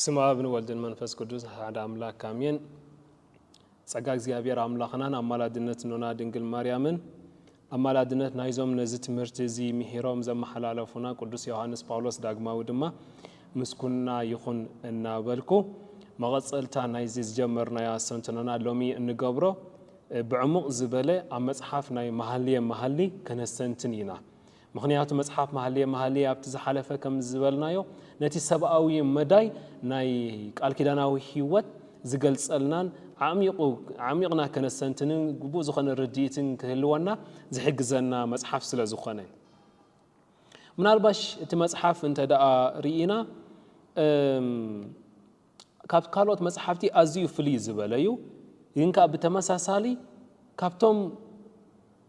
ስም ኣብ ንወልድን መንፈስ ቅዱስ ሓደ ኣምላክ ኣሜን። ጸጋ እግዚኣብሔር ኣምላኽናን ኣማላድነት ኖና ድንግል ማርያምን ኣማላድነት ናይዞም ነዚ ትምህርቲ እዚ ምሂሮም ዘመሓላለፉና ቅዱስ ዮሓንስ ጳውሎስ ዳግማዊ ድማ ምስኩንና ይኹን እናበልኩ፣ መቐጸልታ ናይዚ ዝጀመርናዮ ኣስተንትኖና ሎሚ እንገብሮ ብዕሙቕ ዝበለ ኣብ መጽሓፍ ናይ መሃልየ መሃሊ ከነስተንትን ኢና። ምኽንያቱ መጽሓፍ መሃልየ መሃሊ ኣብቲ ዝሓለፈ ከም ዝበልናዮ ነቲ ሰብኣዊ መዳይ ናይ ቃል ኪዳናዊ ሕይወት ዝገልጸልናን ኣዕሚቑ ኣዕሚቕና ከነስተንትንን ግቡእ ዝኾነ ርድኢትን ክህልወና ዝሕግዘና መጽሓፍ ስለ ዝኾነ። ምናልባሽ እቲ መጽሓፍ እንተ ደኣ ርኢና ካብ ካልኦት መጽሓፍቲ ኣዝዩ ፍልይ ዝበለ እዩ። ግን ከኣ ብተመሳሳሊ ካብቶም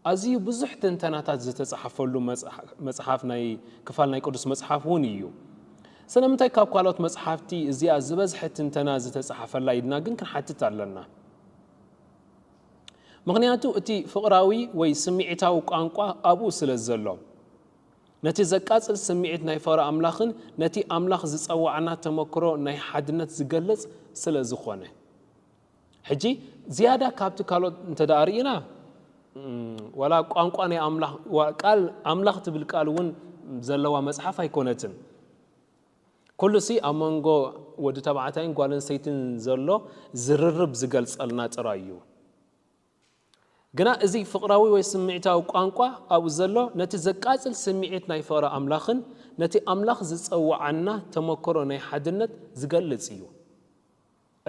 ኣዝዩ ብዙሕ ትንተናታት ዝተጻሕፈሉ መጽሓፍ ናይ ክፋል ናይ ቅዱስ መጽሓፍ ውን እዩ። ስለምንታይ ካብ ካልኦት መጽሓፍቲ እዚኣ ዝበዝሐ ትንተና ዝተጻሕፈላ ኢልና ግን ክንሓትት ኣለና። ምኽንያቱ እቲ ፍቕራዊ ወይ ስምዒታዊ ቋንቋ ኣብኡ ስለ ዘሎ። ነቲ ዘቃጽል ስምዒት ናይ ፍቕሪ ኣምላኽን ነቲ ኣምላኽ ዝጸውዓና ተመክሮ ናይ ሓድነት ዝገልጽ ስለ ዝኾነ። ሕጂ ዝያዳ ካብቲ ካልኦት እንተ ርኢና ዋላ ቋንቋ ናይ ኣምላኽ ቃል ኣምላኽ ትብል ቃል እውን ዘለዋ መጽሓፍ ኣይኮነትን ኩሉ ሲ ኣብ መንጎ ወዲ ተባዕታይን ጓል ኣንስተይትን ዘሎ ዝርርብ ዝገልጸልና ጥራይ እዩ ግና እዚ ፍቕራዊ ወይ ስምዒታዊ ቋንቋ ኣብኡ ዘሎ ነቲ ዘቃጽል ስምዒት ናይ ፍቕሪ ኣምላኽን ነቲ ኣምላኽ ዝጸውዓና ተመክሮ ናይ ሓድነት ዝገልጽ እዩ።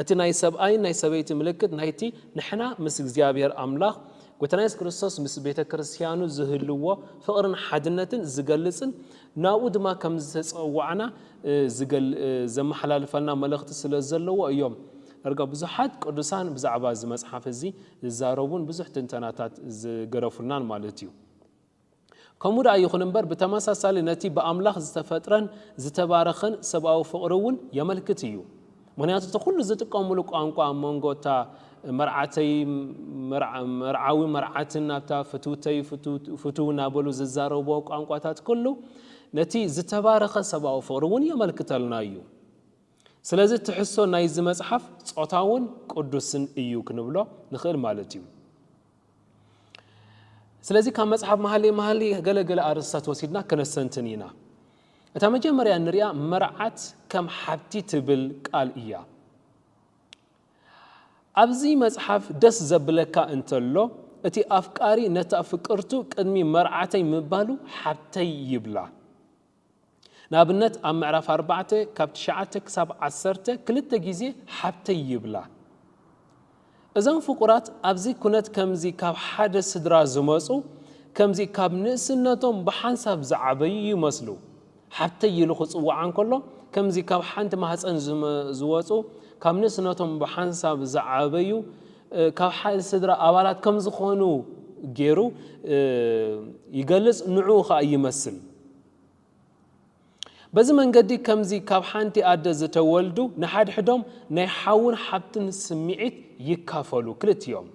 እቲ ናይ ሰብኣይን ናይ ሰበይቲ ምልክት ናይቲ ንሕና ምስ እግዚኣብሔር ኣምላኽ ጎይታና የሱስ ክርስቶስ ምስ ቤተ ክርስቲያኑ ዝህልዎ ፍቕርን ሓድነትን ዝገልጽን ናብኡ ድማ ከም ዝተጸዋዕና ዘመሓላልፈልና መልእኽቲ ስለ ዘለዎ እዮም ዳርጋ ብዙሓት ቅዱሳን ብዛዕባ እዚ መጽሓፍ እዚ ዝዛረቡን ብዙሕ ትንተናታት ዝገደፉልናን ማለት እዩ። ከምኡ ደኣ ይኹን እምበር፣ ብተመሳሳሊ ነቲ ብኣምላኽ ዝተፈጥረን ዝተባረኸን ሰብኣዊ ፍቕሪ እውን የመልክት እዩ። ምኽንያቱ እቲ ኩሉ ዝጥቀምሉ ቋንቋ ኣብ መንጎ እታ መርዓተይ መርዓዊ መርዓትን ናብታ ፍትውተይ ፍቱው እናበሉ ዝዛረብዎ ቋንቋታት ኩሉ ነቲ ዝተባረኸ ሰብኣዊ ፍቕሪ እውን የመልክተልና እዩ። ስለዚ ትሕዝቶ ናይዚ መጽሓፍ ጾታውን ቅዱስን እዩ ክንብሎ ንኽእል ማለት እዩ። ስለዚ ካብ መጽሓፍ መሃሊ መሃሊ ገለ ገለ ኣርእስታት ወሲድና ከነስተንትን ኢና። እታ መጀመርያ እንሪኣ መርዓት ከም ሓብቲ ትብል ቃል እያ። ኣብዚ መጽሓፍ ደስ ዘብለካ እንተሎ እቲ ኣፍቃሪ ነታ ፍቅርቱ ቅድሚ መርዓተይ ምባሉ ሓብተይ ይብላ። ንኣብነት ኣብ ምዕራፍ ኣርባዕተ ካብ ትሽዓተ ክሳብ ዓሰርተ ክልተ ግዜ ሓብተይ ይብላ። እዞም ፍቁራት ኣብዚ ኩነት ከምዚ ካብ ሓደ ስድራ ዝመጹ ከምዚ ካብ ንእስነቶም ብሓንሳብ ዝዓበዩ ይመስሉ። ሓብተይ ኢሉ ክጽውዓ እንከሎ ከምዚ ካብ ሓንቲ ማህጸን ዝወጹ ካብ ንእስነቶም ብሓንሳብ ዝዓበዩ ካብ ሓድ ስድራ ኣባላት ከም ዝኾኑ ጌሩ ይገልጽ ንዑኡ ከኣ ይመስል። በዚ መንገዲ ከምዚ ካብ ሓንቲ ኣደ ዝተወልዱ ንሓድሕዶም ናይ ሓውን ሓብትን ስምዒት ይካፈሉ ክልቲኦም።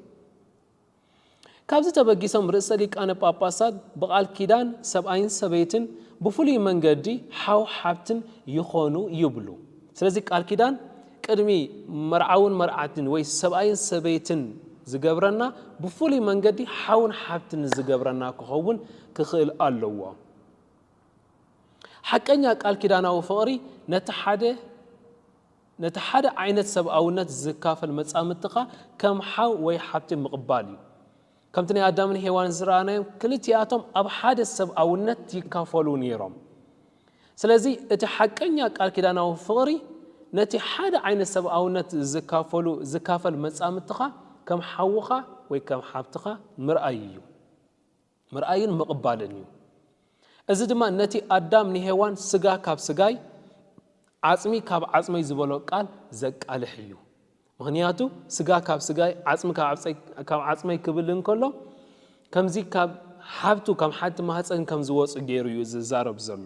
ካብዚ ተበጊሶም ርእሰ ሊቃነ ጳጳሳት ብቓል ኪዳን ሰብኣይን ሰበይትን ብፍሉይ መንገዲ ሓው ሓብትን ይኾኑ ይብሉ። ስለዚ ቃል ኪዳን ቅድሚ መርዓውን መርዓትን ወይ ሰብኣይን ሰበይትን ዝገብረና ብፍሉይ መንገዲ ሓውን ሓብትን ዝገብረና ክኸውን ክኽእል ኣለዎ። ሓቀኛ ቃል ኪዳናዊ ፍቕሪ ነቲ ሓደ ነቲ ሓደ ዓይነት ሰብኣውነት ዚካፈል መጻምድትኻ ከም ሓው ወይ ሓብቲ ምቕባል እዩ። ከምቲ ናይ ኣዳምን ሄዋንን ዝረኣናዮም፣ ክልቲኣቶም ኣብ ሓደ ሰብኣውነት ይካፈሉ ነይሮም። ስለዚ፣ እቲ ሓቀኛ ቃል ኪዳናዊ ፍቕሪ፣ ነቲ ሓደ ዓይነት ሰብኣውነት ዚካፈሉ ዚካፈል መጻምድትኻ ከም ሓውኻ ወይ ከም ሓብትኻ ምርኣይ እዩ። ምርኣይን ምቕባልን እዩ። እዚ ድማ ነቲ ኣዳም ንሄዋን ስጋ ካብ ስጋይ ዓጽሚ ካብ ዓጽመይ ዝበሎ ቃል ዘቃልሕ እዩ። ምኽንያቱ ስጋ ካብ ስጋይ ዓጽሚ ካብ ዓጽመይ ክብል እንከሎ ከምዚ ካብ ሓብቱ ካብ ሓቲ ማህፀን ከም ዝወፁ ገይሩ እዩ ዝዛረብ ዘሎ።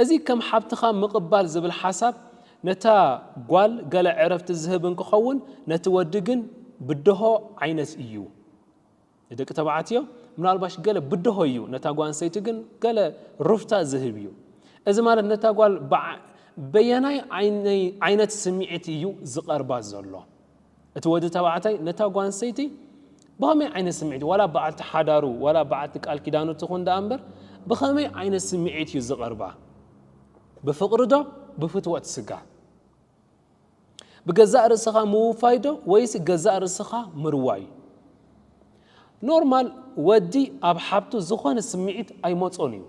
እዚ ከም ሓብትኻ ምቕባል ዝብል ሓሳብ ነታ ጓል ገለ ዕረፍቲ ዝህብ እንክኸውን ነቲ ወዲ ግን ብደሆ ዓይነት እዩ። ንደቂ ተባዕትዮ ምናልባሽ ገለ ብደሆ እዩ፣ ነታ ጓል ኣንስተይቲ ግን ገለ ሩፍታ ዝህብ እዩ። እዚ ማለት ነታ ጓል በየናይ ዓይነት ስምዒት እዩ ዝቐርባ ዘሎ? እቲ ወዲ ተባዕታይ ነታ ጓል ኣንስተይቲ ብኸመይ ዓይነት ስምዒት ዋላ በዓልቲ ሓዳሩ ዋላ በዓልቲ ቃል ኪዳኑ ትኹን ደኣ እምበር ብኸመይ ዓይነት ስምዒት እዩ ዝቐርባ? ብፍቕሪ ዶ ብፍትወት ስጋ? ብገዛእ ርእስኻ ምውፋይ ዶ ወይስ ገዛእ ርእስኻ ምርዋይ? ኖርማል ወዲ ኣብ ሓብቱ ዝኾነ ስምዒት ኣይመጾን እዩ።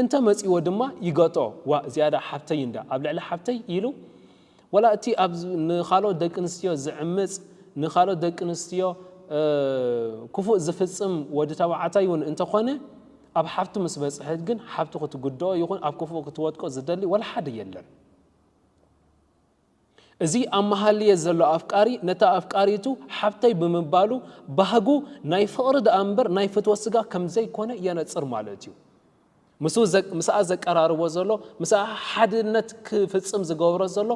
እንተ መጺዎ ድማ ይገጦ ዋእ ዝያዳ ሓብተይ እንዳ ኣብ ልዕሊ ሓብተይ ኢሉ ወላ እቲ ኣብ ንኻልኦት ደቂ ኣንስትዮ ዝዕምጽ ንኻልኦት ደቂ ኣንስትዮ ክፉእ ዝፍጽም ወዲ ተባዕታይ ውን እንተ ኾነ ኣብ ሓብቱ ምስ በጽሐት ግን ሓብቱ ክትጉድኦ ይኹን ኣብ ክፉእ ክትወድቆ ዝደሊ ወላ ሓደ የለን። እዚ ኣብ መሃልየ ዘሎ ኣፍቃሪ ነታ ኣፍቃሪቱ ሓብተይ ብምባሉ ባህጉ ናይ ፍቕሪ ደኣ እምበር ናይ ፍትወት ስጋ ከምዘይኮነ የነጽር ማለት እዩ። ምስኡ ምስኣ ዘቀራርቦ ዘሎ ምስኣ ሓድነት ክፍጽም ዝገብሮ ዘሎ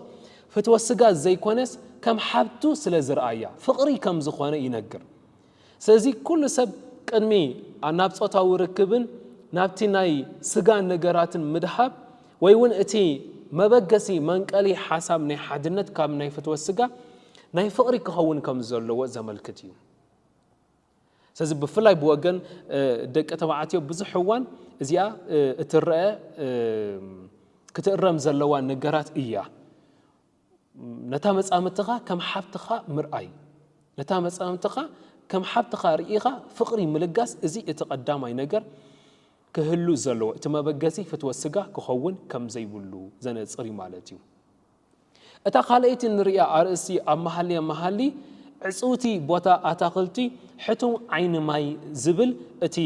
ፍትወት ስጋ ዘይኮነስ ከም ሓብቱ ስለዝርኣያ ፍቕሪ ከምዝኾነ ይነግር። ስለዚ ኩሉ ሰብ ቅድሚ ናብ ጾታዊ ርክብን ናብቲ ናይ ስጋን ነገራትን ምድሃብ ወይ እውን እቲ መበገሲ መንቀሊ ሓሳብ ናይ ሓድነት ካብ ናይ ፍትወት ስጋ ናይ ፍቕሪ ክኸውን ከም ዘለዎ ዘመልክት እዩ። ስለዚ ብፍላይ ብወገን ደቂ ተባዕትዮ ብዙሕ እዋን እዚኣ እትረአ ክትእረም ዘለዋ ነገራት እያ። ነታ መጻምድትኻ ከም ሓብትኻ ምርኣይ። ነታ መጻምድትኻ ከም ሓብትኻ ርኢኻ ፍቕሪ ምልጋስ እዚ እቲ ቀዳማይ ነገር ክህሉ ዘለዎ እቲ መበገሲ ፍትወት ስጋ ክኸውን ከም ዘይብሉ ዘነጽር እዩ ማለት እዩ። እታ ካልኣይቲ ንርእያ ኣርእስቲ ኣብ መሃልየ መሃሊ ዕጽውቲ ቦታ ኣታኽልቲ ሕቱም ዓይኒ ማይ ዝብል እቲ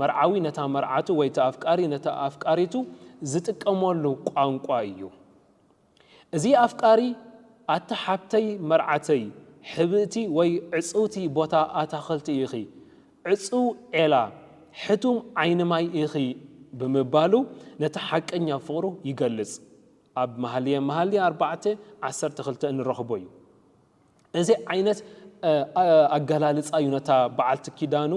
መርዓዊ ነታ መርዓቱ ወይ እቲ ኣፍቃሪ ነታ ኣፍቃሪቱ ዝጥቀመሉ ቋንቋ እዩ። እዚ ኣፍቃሪ ኣቲ ሓብተይ መርዓተይ ሕብእቲ ወይ ዕጽውቲ ቦታ ኣታኽልቲ ኢኺ ዕጽው ዔላ ሕቱም ዓይኒ ማይ ኢኺ ብምባሉ ነቲ ሓቀኛ ፍቕሩ ይገልጽ ኣብ መሃልየ መሃልይ ኣርባዕተ ዓሰርተ ክልተ እንረኽቦ እዩ። እዚ ዓይነት ኣገላልጻ እዩ ነታ በዓልቲ ኪዳኑ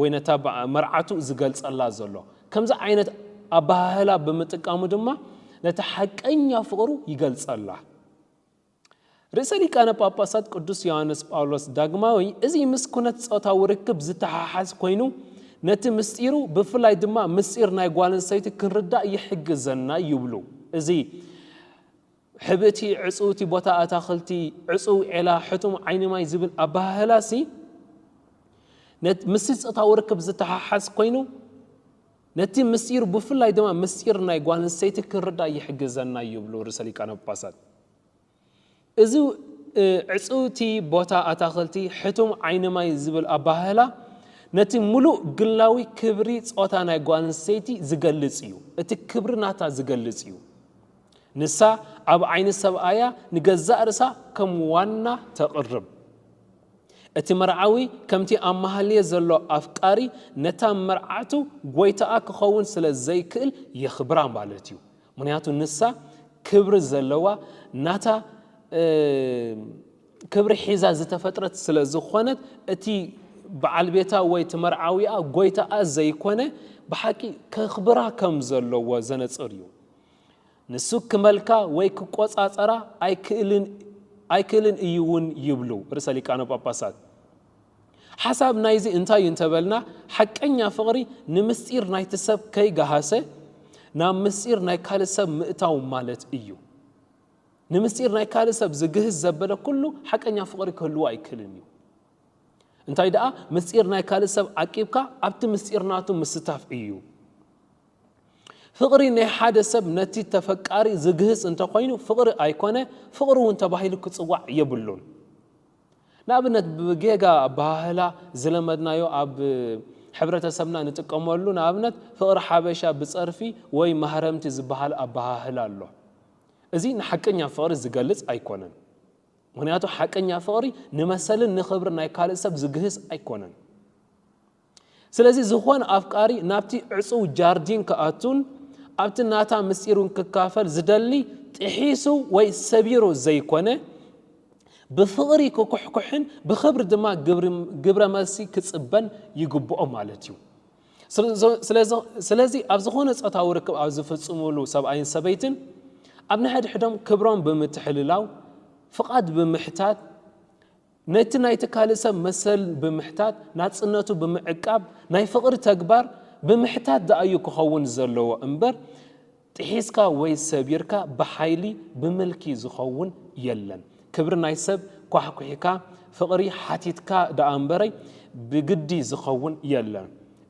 ወይ ነታ መርዓቱ ዝገልጸላ ዘሎ። ከምዚ ዓይነት ኣበሃህላ ብምጥቃሙ ድማ ነቲ ሓቀኛ ፍቕሩ ይገልጸላ። ርእሰ ሊቃነ ጳጳሳት ቅዱስ ዮሃንስ ጳውሎስ ዳግማዊ እዚ ምስ ኩነት ጾታዊ ርክብ ዝተሓሓዝ ኮይኑ ነቲ ምስጢሩ ብፍላይ ድማ ምስጢር ናይ ጓል ኣንስተይቲ ክንርዳእ ይሕግዘና ይብሉ። እዚ ሕብእቲ ዕጽውቲ ቦታ ኣታኽልቲ ዕጽው ዔላ ሕቱም ዓይኒ ማይ ዝብል ኣበሃህላሲ ምስቲ ጾታዊ ርክብ ዝተሓሓዝ ኮይኑ ነቲ ምስጢሩ ብፍላይ ድማ ምስጢር ናይ ጓል ኣንስተይቲ ክንርዳእ ይሕግዘና ይብሉ ርእሰ ሊቃነ ጳጳሳት። እዚ ዕጽውቲ ቦታ ኣታኽልቲ ሕቱም ዓይኒ ማይ ዝብል ኣበሃህላ ነቲ ምሉእ ግላዊ ክብሪ ጾታ ናይ ጓል ኣንስተይቲ ዝገልጽ እዩ፣ እቲ ክብሪ ናታ ዝገልጽ እዩ። ንሳ ኣብ ዓይኒ ሰብኣያ ንገዛእ ርእሳ ከም ዋና ተቕርብ። እቲ መርዓዊ ከምቲ ኣብ መሃልየ ዘሎ ኣፍቃሪ ነታ መርዓቱ ጎይታኣ ክኸውን ስለ ዘይክእል የኽብራ ማለት እዩ። ምኽንያቱ ንሳ ክብሪ ዘለዋ ናታ ክብሪ ሒዛ ዝተፈጥረት ስለ ዝኾነት እቲ በዓል ቤታ ወይ እቲ መርዓዊኣ ጎይታኣ ዘይኮነ ብሓቂ ከኽብራ ከም ዘለዎ ዘነጽር እዩ። ንስክመልካ ወይ ክቆጻጸራ ኣይክእልን እዩ እውን ይብሉ ርእሰ ሊቃነ ጳጳሳት። ሓሳብ ናይዚ እንታይ እዩ እንተበልና ሓቀኛ ፍቕሪ ንምስጢር ናይቲ ሰብ ከይገሃሰ ናብ ምስጢር ናይ ካልእ ሰብ ምእታው ማለት እዩ። ንምስጢር ናይ ካልእ ሰብ ዝግህስ ዘበለ ኩሉ ሓቀኛ ፍቕሪ ክህልዎ ኣይክእልን እዩ። እንታይ ደኣ ምስጢር ናይ ካልእ ሰብ ዓቂብካ ኣብቲ ምስጢር ናቱ ምስታፍ እዩ። ፍቕሪ ናይ ሓደ ሰብ ነቲ ተፈቃሪ ዝግህጽ እንተ ኾይኑ ፍቕሪ ኣይኮነ ፍቕሪ እውን ተባሂሉ ክጽዋዕ የብሉን። ንኣብነት ብጌጋ ኣበሃህላ ዝለመድናዮ ኣብ ሕብረተሰብና ንጥቀመሉ ንኣብነት ፍቕሪ ሓበሻ ብጸርፊ ወይ ማህረምቲ ዝበሃል ኣበሃህላ ኣሎ። እዚ ንሓቀኛ ፍቕሪ ዝገልጽ ኣይኮነን። ምኽንያቱ ሓቀኛ ፍቕሪ ንመሰልን ንኽብሪ ናይ ካልእ ሰብ ዝግህስ ኣይኮነን። ስለዚ ዝኾነ ኣፍቃሪ ናብቲ ዕጹው ጃርዲን ክኣቱን ኣብቲ ናታ ምስጢሩን ክካፈል ዝደሊ ጥሒሱ ወይ ሰቢሩ ዘይኮነ ብፍቕሪ ክኩሕኩሕን ብኽብሪ ድማ ግብረ መልሲ ክጽበን ይግብኦ ማለት እዩ። ስለዚ ኣብ ዝኾነ ጾታዊ ርክብ ኣብ ዝፍጽሙሉ ሰብኣይን ሰበይትን ኣብ ንሕድሕዶም ክብሮም ብምትሕልላው ፍቓድ ብምሕታት ነቲ ናይቲ ካልእ ሰብ መሰል ብምሕታት ናጽነቱ ብምዕቃብ ናይ ፍቕሪ ተግባር ብምሕታት ደኣ'ዩ ክኸውን ዘለዎ እምበር ጥሒስካ ወይ ሰቢርካ ብሓይሊ ብምልኪ ዝኸውን የለን። ክብሪ ናይ ሰብ ኳሕኲሕካ ፍቕሪ ሓቲትካ ደኣ'ምበረይ ብግዲ ዝኸውን የለን።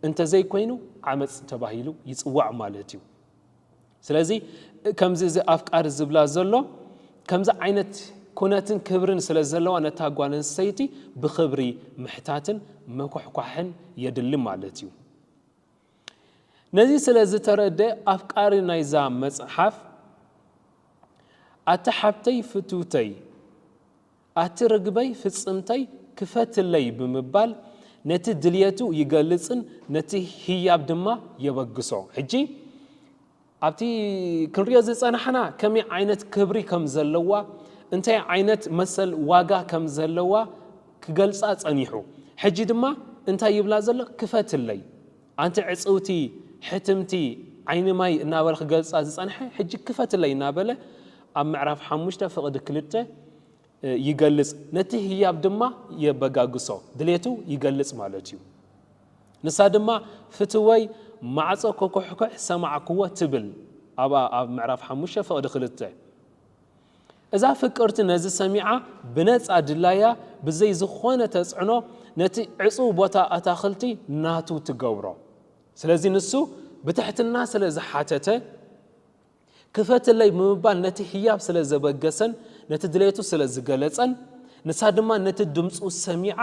እንተዘይኮይኑ ዓመጽ ተባሂሉ ይጽዋዕ ማለት'ዩ። ስለዚ ከምዚ እዚ ኣፍቃሪ ዝብላ ዘሎ ከምዚ ዓይነት ኩነትን ክብርን ስለ ዘለዋ ነታ ጓል ኣንስተይቲ ብክብሪ ምሕታትን ምኩሕኳሕን የድሊ ማለት እዩ። ነዚ ስለ ዝተረደ ኣፍቃሪ ናይዛ መጽሓፍ ኣቲ ሓብተይ ፍትውተይ ኣቲ ርግበይ ፍጽምተይ ክፈትለይ ብምባል ነቲ ድልየቱ ይገልጽን ነቲ ህያብ ድማ የበግሶ። ሕጂ ኣብቲ ክንሪኦ ዝጸናሕና ከመይ ዓይነት ክብሪ ከም ዘለዋ እንታይ ዓይነት መሰል ዋጋ ከም ዘለዋ ክገልጻ ጸኒሑ ሕጂ ድማ እንታይ ይብላ ዘሎ ክፈትለይ ኣንቲ ዕጽውቲ ሕትምቲ ዓይኒ ማይ እናበለ ክገልጻ ዝጸንሐ ሕጂ ክፈትለይ እናበለ ኣብ ምዕራፍ ሓሙሽተ ፍቕዲ ክልተ ይገልጽ ነቲ ህያብ ድማ የበጋግሶ ድሌቱ ይገልጽ ማለት እዩ ንሳ ድማ ፍትወይ ማዕጾ ኮኮሕኮሕ ሰማዕክዎ ትብል ኣብኣ ኣብ ምዕራፍ ሓሙሽተ ፍቕዲ ክልተ እዛ ፍቅርቲ ነዚ ሰሚዓ ብነጻ ድላያ ብዘይ ዝኾነ ተጽዕኖ ነቲ ዕጽው ቦታ ኣታኽልቲ ናቱ ትገብሮ። ስለዚ ንሱ ብትሕትና ስለ ዝሓተተ ክፈትለይ ብምባል ነቲ ህያብ ስለ ዘበገሰን ነቲ ድሌቱ ስለ ዝገለጸን ንሳ ድማ ነቲ ድምጹ ሰሚዓ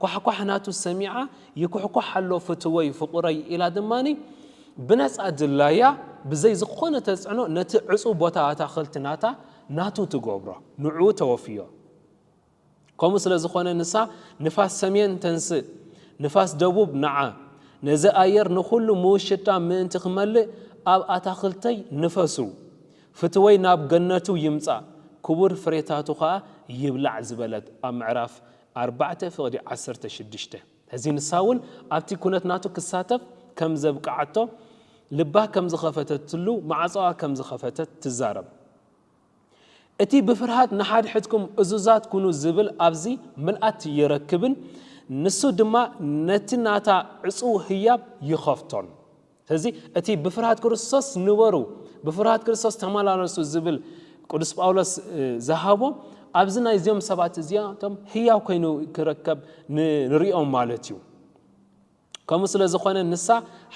ኳሕኳሕ ናቱ ሰሚዓ ይኩሕኳሕ ኣሎ ፍትወይ ፍቑረይ ኢላ ድማ ብነጻ ድላያ ብዘይ ዝኾነ ተጽዕኖ ነቲ ዕጹው ቦታ ኣታኽልቲ ናታ ናቱ ትገብሮ ንዕኡ ተወፍዮ። ከምኡ ስለ ዝኾነ ንሳ ንፋስ ሰሜን ተንስእ ንፋስ ደቡብ ንዓ ነዚ ኣየር ንኹሉ ምውሽጣ ምእንቲ ክመልእ ኣብ ኣታኽልተይ ንፈሱ ፍትወይ ናብ ገነቱ ይምጻእ ክቡር ፍሬታቱ ከኣ ይብላዕ ዝበለት ኣብ ምዕራፍ ኣርባዕተ ፍቕዲ ዓሰርተ ሽዱሽተ ሕዚ ንሳውን ኣብቲ ኩነት ናቱ ክሳተፍ ከም ዘብቅዓቶ ልባ ከም ዝኸፈተትሉ ማዕጾኣ ከም ዝኸፈተት ትዛረብ። እቲ ብፍርሃት ንሓድሕድኩም እዙዛት ኩኑ ዝብል ኣብዚ ምልኣት ይረክብን ንሱ ድማ ነቲ ናታ ዕጹው ህያብ ይኸፍቶን። ስለዚ እቲ ብፍርሃት ክርስቶስ ንበሩ፣ ብፍርሃት ክርስቶስ ተመላለሱ ዝብል ቅዱስ ጳውሎስ ዝሃቦ ኣብዚ ናይ እዚኦም ሰባት እዚኣቶም ህያው ኮይኑ ክረከብ ንሪኦም ማለት እዩ። ከምኡ ስለ ዝኾነ ንሳ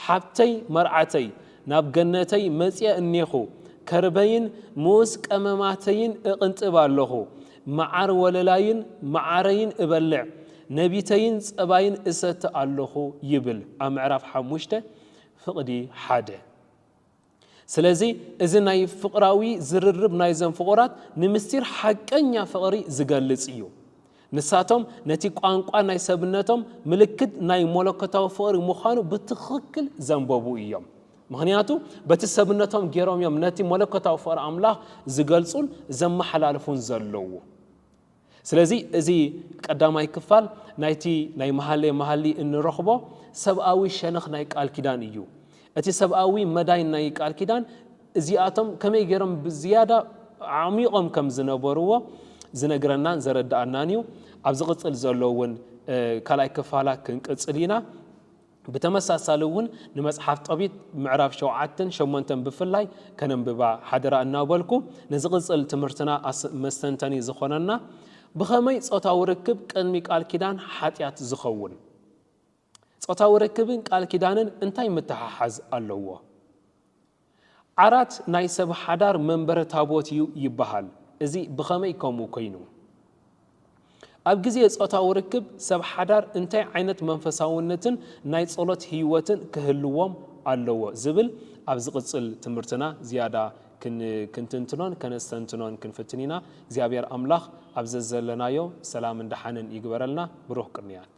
ሓብተይ መርዓተይ ናብ ገነተይ መጽየ እኔኹ ከርበይን ምኡስ ቀመማተይን እቕንጥብ ኣለኹ መዓር ወለላይን መዓረይን እበልዕ፣ ነቢተይን ጸባይን እሰቲ ኣሎኹ ይብል ኣብ ምዕራፍ ሓሙሽተ ፍቕዲ ሓደ። ስለዚ እዚ ናይ ፍቕራዊ ዝርርብ ናይዘም ፍቑራት ንምስጢር ሓቀኛ ፍቕሪ ዝገልጽ እዩ። ንሳቶም ነቲ ቋንቋ ናይ ሰብነቶም ምልክት ናይ ሞለኮታዊ ፍቕሪ ምዃኑ ብትኽክል ዘንበቡ እዮም። ምኽንያቱ በቲ ሰብነቶም ገይሮም እዮም ነቲ መለኮታዊ ፍቕሪ ኣምላኽ ዝገልጹን ዘመሓላልፉን ዘለዉ። ስለዚ እዚ ቀዳማይ ክፋል ናይቲ ናይ መሃሌ መሃሊ እንረኽቦ ሰብኣዊ ሸነኽ ናይ ቃል ኪዳን እዩ እቲ ሰብኣዊ መዳይ ናይ ቃል ኪዳን እዚኣቶም ከመይ ገይሮም ብዝያዳ ዓሚቖም ከም ዝነበርዎ ዝነግረናን ዘረዳኣናን እዩ ኣብ ዝቕፅል ዘሎ እውን ካልኣይ ክፋላ ክንቅፅል ኢና ብተመሳሳሊ እውን ንመጽሓፍ ጦቢት ምዕራፍ ሸውዓተን ሸሞንተን ብፍላይ ከነንብባ ሓደራ እናበልኩ፣ ንዝቕጽል ትምህርትና መስተንተኒ ዝኾነና ብኸመይ ጾታዊ ርክብ ቅድሚ ቃል ኪዳን ሓጢኣት ዝኸውን? ጾታዊ ርክብን ቃል ኪዳንን እንታይ ምትሓሓዝ ኣለዎ? ዓራት ናይ ሰብ ሓዳር መንበረ ታቦት እዩ ይበሃል። እዚ ብኸመይ ከምኡ ኰይኑ? ኣብ ግዜ ጾታዊ ርክብ ሰብ ሓዳር እንታይ ዓይነት መንፈሳውነትን ናይ ጸሎት ህይወትን ክህልዎም ኣለዎ ዝብል ኣብ ዝቕጽል ትምህርትና ዝያዳ ክንትንትኖን ከነስተንትኖን ክንፍትን ኢና። እግዚኣብሔር ኣምላኽ ኣብ ዘዘለናዮ ሰላምን ደሓንን ይግበረልና። ብሩኽ ቅንያት!